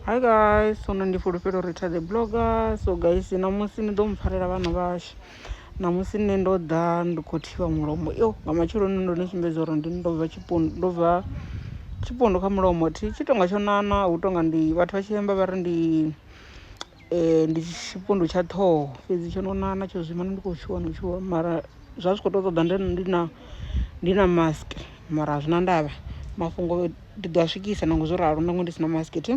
Hi guys, so ndi fulufhelo Rita the blogger. So guys, ṋamusi ni ḓo mpfarela vhana vhashu. Ṋamusi nṋe ndo ḓa ndi khou thivha mulomo. Yo, nga matsheloni ndo ni sumbedza uri ndi ndo bva tshipundu, ndo bva tshipundu kha mulomo. Thi tshi tonga tsho nana, hu tonga ndi vhathu vha tshi amba vha ri ndi um ndi tshifhundu tsha ṱhoho fhedzi tsho no ṋaṋa tsho zwino ndi khou tshuwa no tshuwa mara zwa zwi kho to ṱoḓa nd ndi na ndi na mask mara a zwi na ndavha mafhungo ndi ḓo a swikisa nangwe zwo ralo nangwe ndi si na mask thi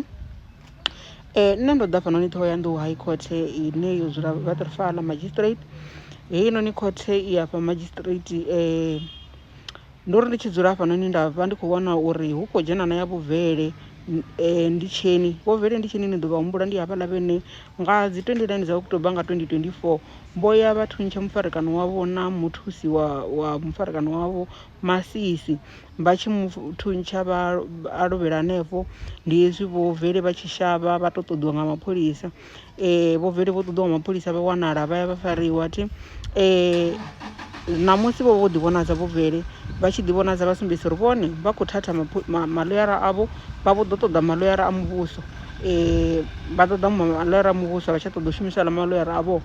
nṋe ndo ḓa hafhanoni ṱhoho ya nḓou high court ine yo dzula Waterval magistrate heinoni khothe i afha madzhisitiriti . Ndo ri ndi tshi dzula hafhanoni nda vha ndi khou vhona uri hu khou dzhena na ya vhuvele eh, ndi tsheni vhuvele ndi tsheni ni ḓo vha humbula ndi havhaḽa vhene nga dzi 29 dza oktoba nga 2024 vho ya vha thuntsha mufarekano wavho na muthusi wa, wa mufarekano wavho masisi vha tshi mu thuntsha vha a lovhela hanefho ndi hezwi vhuvele vha tshi shavha vha tou ṱoḓiwa nga mapholisa um vho vele vho ṱoḓiwa nga mapholisa vha wanala vha ya vha fariwa thi um ṋamusi vho vho ḓi vhonadza vho vele vha tshi ḓi vhonadza vha sumbedzisa uri vhone vha khou thatha maloyara avho vha vho ḓo ṱoḓa maloyara a muvhuso um vha ṱoḓa maloyara a muvhuso vha tsha ṱoḓa u shumisa ḽa maloyara avho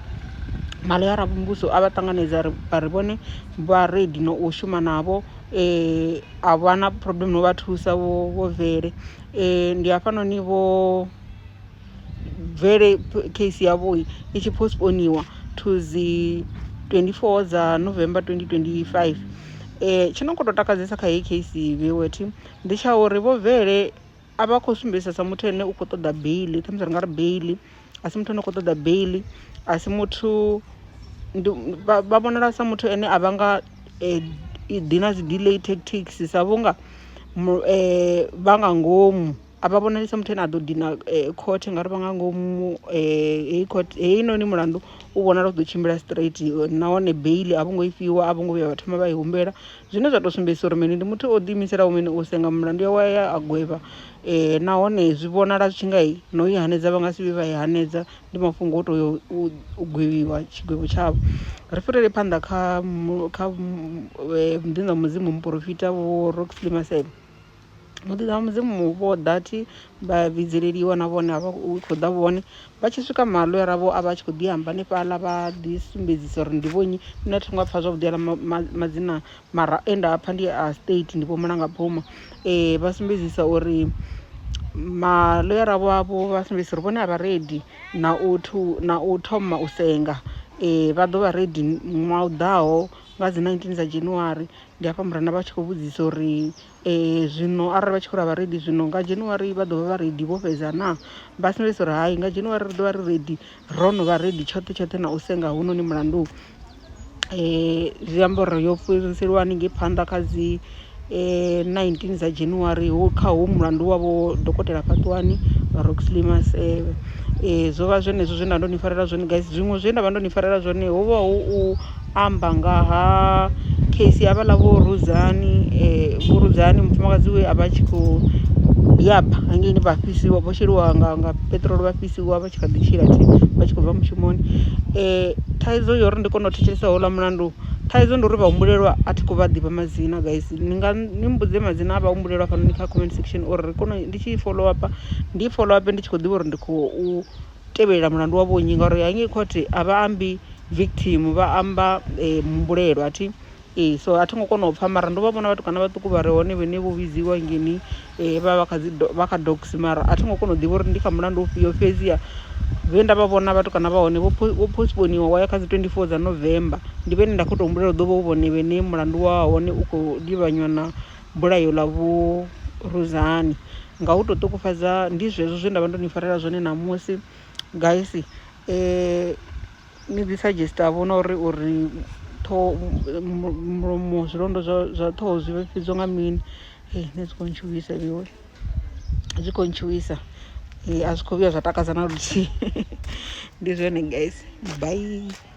maloyara a muvhuso a vha ṱanganedza ri vha ri vhone vha redi no u shuma navho um a vha na problem no vha thusa vho vele um ndi hafhanoni vho bvele case yavho i tshi postponiwa to dzi 24 dza November 2025 eh tshi no kho to takadzesa kha heyi case vhewethu ndi tsha uri vho bvele a vha khou sumbedzisa sa muthu ane u khou ṱoḓa beili khamusi ri nga ri beili a si muthu ane u khou ṱoḓa beili a si muthu ndi vha vhonala sa muthu ane a vha nga ḓi na dzi delay tactics sa vhunga vha nga ngomu. a vha vhonali sa muthu ane a ḓo dina khothe ngauri vha nga ngomu heyi khothe heinoni mulandu u vhonala u ḓo tshimbila straight nahone beili a vho ngo i fhiwa a vho ngo vhuya vha thoma vha i humbela zwine zwa tou sumbedzisa uri mini ndi muthu o ḓiimiselaho mini u senga mulandu yawe ya a gwevha nahone zwi vhonala zwi tshi nga i no i hanedza vha nga si vhe vha i hanedza ndi mafhungo o to yo u gwevhiwa tshigwevho tshavho ri fhirele phanḓa kha kha mudzimu muporofita vho Roxley Maseko. Muḓi wa Mudzimu hu vho ḓa thi vha vhidzeleliwa na vhone vha khou ḓa vhone vha tshi swika malwera vho a vha tshi khou ḓi amba hanefhaḽa vha ḓi sumbedzisa uri ndi vhonnyi nṋe thi ngo pfha zwavhuḓi aḽa madzina mara e nda pfha ndi a state ndi vho mulanga phuma um vha sumbedzisa uri malwera wavho vha sumbedzisa uri vhone a vha redi na u thu na u thoma u senga vha ḓo vha redi ṅwaha u ḓaho nga dzi nineteen dza January ndi hafha murena vha tshi khou vhudzisa uri. zwino arali vha tshi khou ri a vha ready zwino nga January vha ḓo vha vha ready vho fhedza na vha sumbedzisa uri hai nga January ri ḓo vha ri ready ro no vha ready tshoṱhe tshoṱhe na u senga hunoni mulandu eh zwi amba uri yo fhiriselwa haningei phanḓa kha dzi eh 19 dza January ho kha ho mulandu wavho dokotela fhaṱuwani Roxley Maseve eh zwo vha zwenezwo zwe nda ndo ni farela zwone guys zwiṅwe zwe nda vha ndo ni farela zwone ho vha hu u amba nga ha case ya havhaḽa vho rudzani vho rudzani mufumakadzi we a vha a tshi kho yaba hangeini vha fhisiwa vho sheliwa nga nga peṱirolo vha fhisiwa vha tshi kha ḓi tshila tshi vha tshi khou bva mushumoni, thaidzo ya uri ndi kone u thetshelesa houḽa mulandu thaidzo ndi uri vha humbulelwa a thi khou vha ḓivha madzina guys ni nga ni mbudze madzina a vha humbulelwa hafhanoni kha comment section uri ri kone ndi tshi follow up ndi follow up ndi tshi kho ḓivha uri ndi khou. tevhelela mulandu wa vhonnyi ngauri hangei court a vha ambi victim vha amba eh, muhumbulelo athi ee so a thi ngo kona u pfha mara ndo vha vhona vhatukana vhaṱuku vha re hone vhene vho vhidziwa ngeni eh, vha vha kha dzi do- vha kha dogs mara a thi ngo kona u ḓivha uri ndi kha mulandu ufhio fhedziha vhe nda vha vhona vhatukana vha hone vho pho- vho postponiwa wa ya kha dzi 24 dza november ndi vhene nda khou tou humbulela u ḓo vha hu vhone vhene mulandu wa hone u khou livhanywa na bulayo ḽa vhuruzani nga u to ṱukufhadza ndi zwezwo zwe nda vha ndo ni farela zwone ṋamusi guys ni dzi suggest a vhona uri uri ṱhoho mulomo zwilonda zwa zwa ṱhoho zwi vhifhiwa nga mini hei nṋe dzi kho ntshuwisa vhewe zwi kho ntshuwisa a zwi kho vhuya zwa takadza na luthihi ndi zwone guys bye.